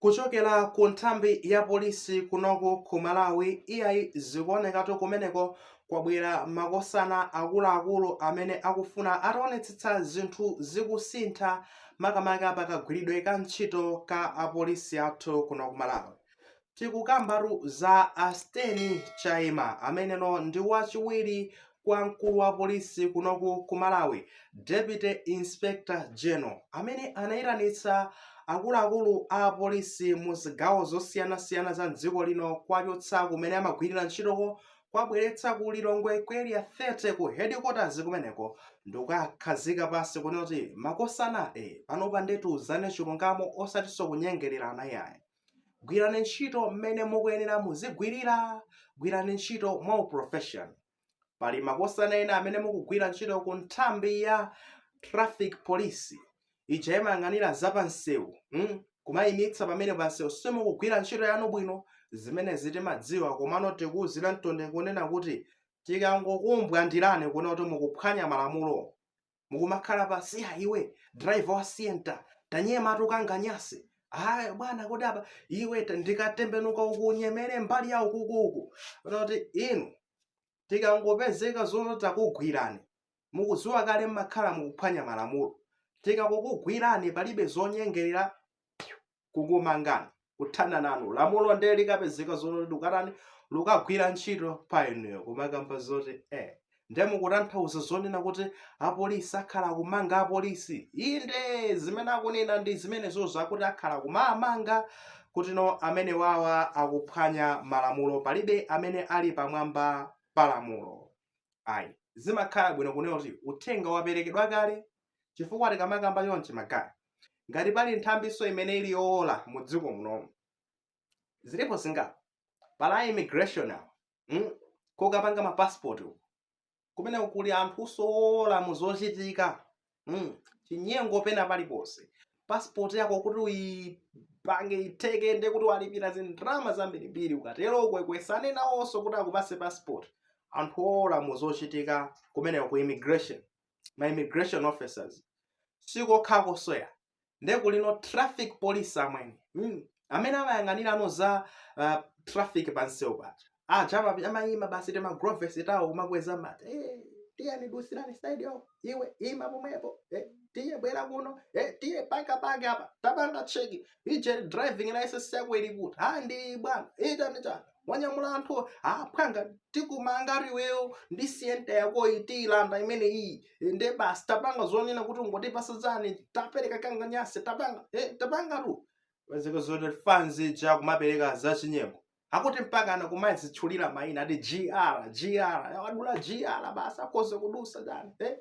kuchokera ku nthambi ya polisi kunoko ku malawi iyayi zikuonekatu kumeneko kwabwera makosana akuluakulu amene akufuna ataonetsetsa zinthu zikusintha makamaka pakagwiridwe ka ntchito ka apolisi athu kuno ku malawi Tikukambatu za a Steny Chaima ameneno ndi wachiwiri kwa mkulu wa polisi kunoku ku Malawi, Deputy Inspector General, amene anaitanitsa akuluakulu a apolisi mu zigawo zosiyanasiyana za m'dziko lino kuwachotsa kumene amagwirira ntchitoko kuwabweretsa ku Lilongwe ku Area 30 ku headquarters kumeneko ndikuwakhazika pansi kunena kuti makosana e, panopa nde tiuzane chilungamo osatinso kunyengererana iyayi. gwirani ntchito mmene mukuyenera muzigwirira gwirani ntchito mwa uprofession pali makosana ena amene mukugwira ntchito ku nthambi ya traffic police ija imayang'anira za pansewu mm? kumayimitsa pamene pansewu simukugwira ntchito yanu bwino zimenezi timadziwa komano tikuwuziranitu nde kunena kuti tikangokumbwandirani kunena kuti mukuphwanya malamulo mukumakhala pansi ha iwe driver wa sienta tanyema tukanganyase aya bwana kodi apa iwe ta- ndikatembenuka ukunyemere mbali ya ukukuku kuti inu tikangopezeka zoti takugwirani mukudziwa kale mmakhala mukuphwanya malamulo tikakukugwirani palibe zonyengerera kukumangani kuthana nanu lamulo ndiye likapezeka zoti lukatani lukagwira ntchito pa inuyo kumakamba zoti eh ndiye mukutanthauza zonena kuti apolisi akhala kumanga apolisi inde zimene akunena ndi zimenezozo akuti akhala kumamanga kutino amene wawa akuphwanya malamulo palibe amene ali pamwamba pa lamulo ayi zimakhala bwino kunena kuti uthenga waperekedwa kale chifukwa tikamakamba chonchi magaye ngati pali nthambinso imene ili yowola mu dziko munomu zilipo zingapo pali a immigration awo mm? kokapanga mapasipoti uko kumeneko kuli anthu owola mu zochitika mm? chinyengo pena paliponse pasipoti yako kuti uyipange itheke nde kuti walipira zindrama zambirimbiri ukatero ukwekwesane nawonso kuti akupase pasipoti anthu owola mu zochitika kumeneko ku immigration ma immigration officers sikokha kusiya nde kulinso traffic police amwene mm. amene amayang'anirano za uh, traffic pansewu paja aja ama- amayima basi tima gloves tawo kumakweza amati eh, tiyeni dutsirani side iyo iwe ima pomwepo eh, tiye bwera kuno eh, tiye paka paka apa tapanga cheki ujeni driving license yako ili kuti ha ndi bwana ita ndi chana wanyamula anthu aphwanga tikumanga iweyo ndi sienta yakoyi tiyilanda imene iyi nde basi tapanga zonena kuti ungotipasa chani tapereka kanganyase tapanga eh, tapanga tu paziko zoti fanzi ja kumapereka zachinyengo akuti mpakana kumazitchulira mayina ati gr gr wadula gr basi akhoza kudusa chani eh?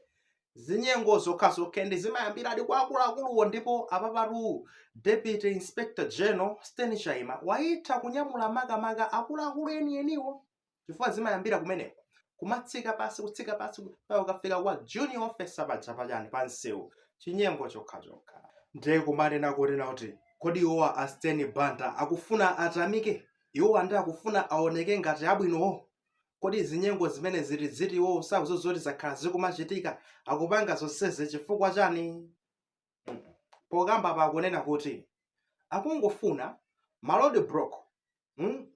zinyengo zokhazokha and zimayambiradi kwa akuluakuluwo ndipo apapatu deputy inspector general stain chaima wayitha kunyamula makamaka akuluakulu enieniwo chifukwa zimayambira kumeneko kumatsika pasi kutsika pasi mpaka ukafika kwa junior officer paja pachani pa msewu chinyengo chokhachokha ndiye kumanena kunena kuti kodi iwowa a stain banda akufuna atamike iwowa ndi akufuna aoneke ngati abwinowo Kodi zinyengo zimene zili ziti iwo sakuziwa zoti zakhala zikumachitika akupanga zonsezi chifukwa chani? Pokamba pa akunena kuti akungofuna ma road block hmm?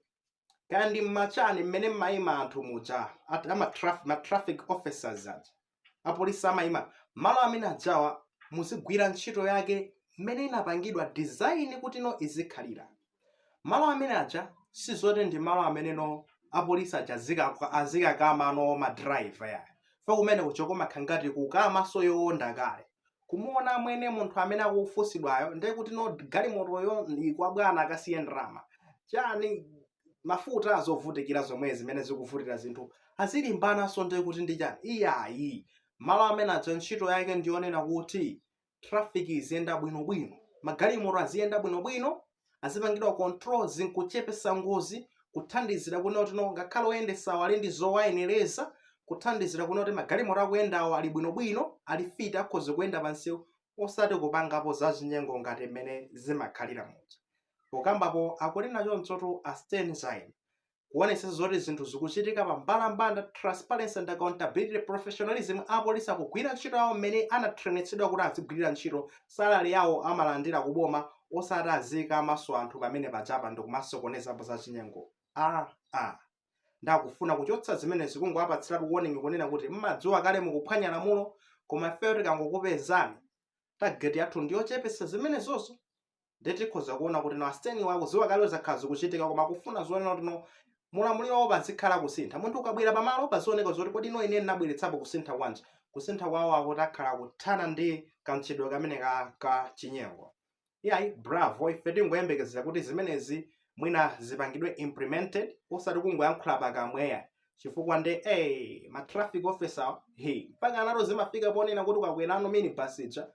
kaya ndi mmachani mmene mmaima anthu muja at, ama traf, ma traffic officers aja apolisi amayima malo amene ajawa muzigwira ntchito yake mmene inapangidwa design kuti no izikhalira malo amene aja sizoti ndi malo amene no apolisi aja azika- azikakama no madriver ya fa kumene kukumakhala ngati kukamaso yowonda kale kumuona amwene munthu amene akufunsidwayo ndiye kuti no galimotoyo ikwa bwana akasiye ndalama chani mafuta azovutikira zomwe zimene zikuvutira zinthu azilimbananso ndiye kuti ndi chani iyayi malo amene aja ntchito yake ndiyonena kuti traffic iziyenda bwinobwino magalimoto aziyenda bwinobwino azipangidwa controls nkuchepesa ngozi, kuthandizira kunena kuti no ngakhale oyendesawo ali ndi zowayenereza, kuthandizira kunena kuti magalimoto akuyendawo ali bwino bwino, ali fit akhoza kuyenda pa msewu, osati kupangapo za chinyengo ngati mmene zimakhalira muja. Pokambapo akunena chonchotu a Stain Chaima. kuonetsetsa zoti zinthu zikuchitika pa mbalambanda transparency and accountability professionalism apolisi akugwira ntchito yawo mmene anatrenetsedwa kuti azigwirira ntchito salary yawo amalandira ku boma osati azikamaso anthu pamene pajapa ndikumasokonezapo za chinyengo aa ah, nde akufuna kuchotsa zimenezi kungowapatsiratu warning kunena kuti mmadziwa kale mukuphwanya lamulo koma ifeyo tikangokupezani target yathu ndiyochepesa zimenezozo ndiye tikhoza kuona kuti no asiteniwa akuziwa kale kuti zakhala zikuchitika koma akufuna zonena kuti no mu ulamuliro pazikhala kusintha munthu ukabwera pamalo pazioneka zoti kodi no ine ndinabweretsapo kusintha kwanji kusintha kwawo akuti akhala kuthana ndi kamchitidwe kameneka ka chinyengo iyayi bravo ife tingoyembekezera kuti zimenezi mwina zipangidwe implemented osati kungoyankhula pakamwa eya chifukwa nde eh ma traffic officer he mpaka anato zimafika ponena kuti ukakwerano mini bus ija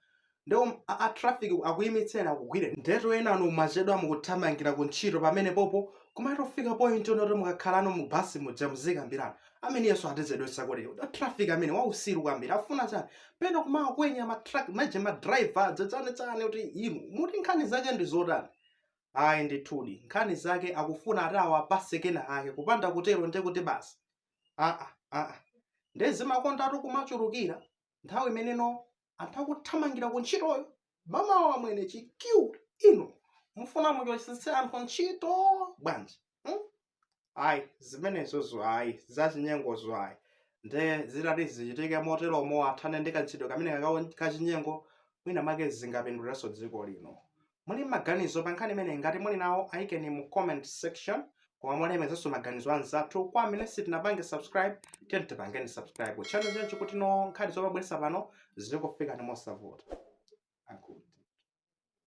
nde a, a traffic akuyimitseni akugwire ndetu enanu mwachedwa mukuthamangira ku ntchito pamenepopo kumatofika point yonoti mukakhalano mu bus muja muzikambirana ameneyunso atichedwetsa kuti uda traffic ameneyu wausiru kwambiri afuna chani pena kumakwenya ma truck maje ma driver zazanetsane kuti inu muti nkhani zake ndi zotani Ayi ndithudi, nkhani zake akufuna ati awapatse kenakake kupanda kutero nde kuti basi aa aa nde zimakondatu kumachulukira nthawi imeneno anthu akuthamangira ku ntchitoyo mamawa amwene cheukani inu mufuna muchosetse anthu ntchito bwanji hmm? ayi zimenezozo ayi zachinyengozo ayi nde zitati zichitike moteromo athane ndi kamchitidwe kamene kakawo- kachinyengo mwina make zingapindulirenso dziko lino muli ndi maganizo pa nkhani imeneyi ngati muli nawo ayikeni mu comment section koma mulemekezenso maganizo anzathu kwa amene sitinapange subscribe tiyeni tipangeni subscribe channel chanuchi kutino nkhani tomabweresa pano zikufikeni mosavuta Aku-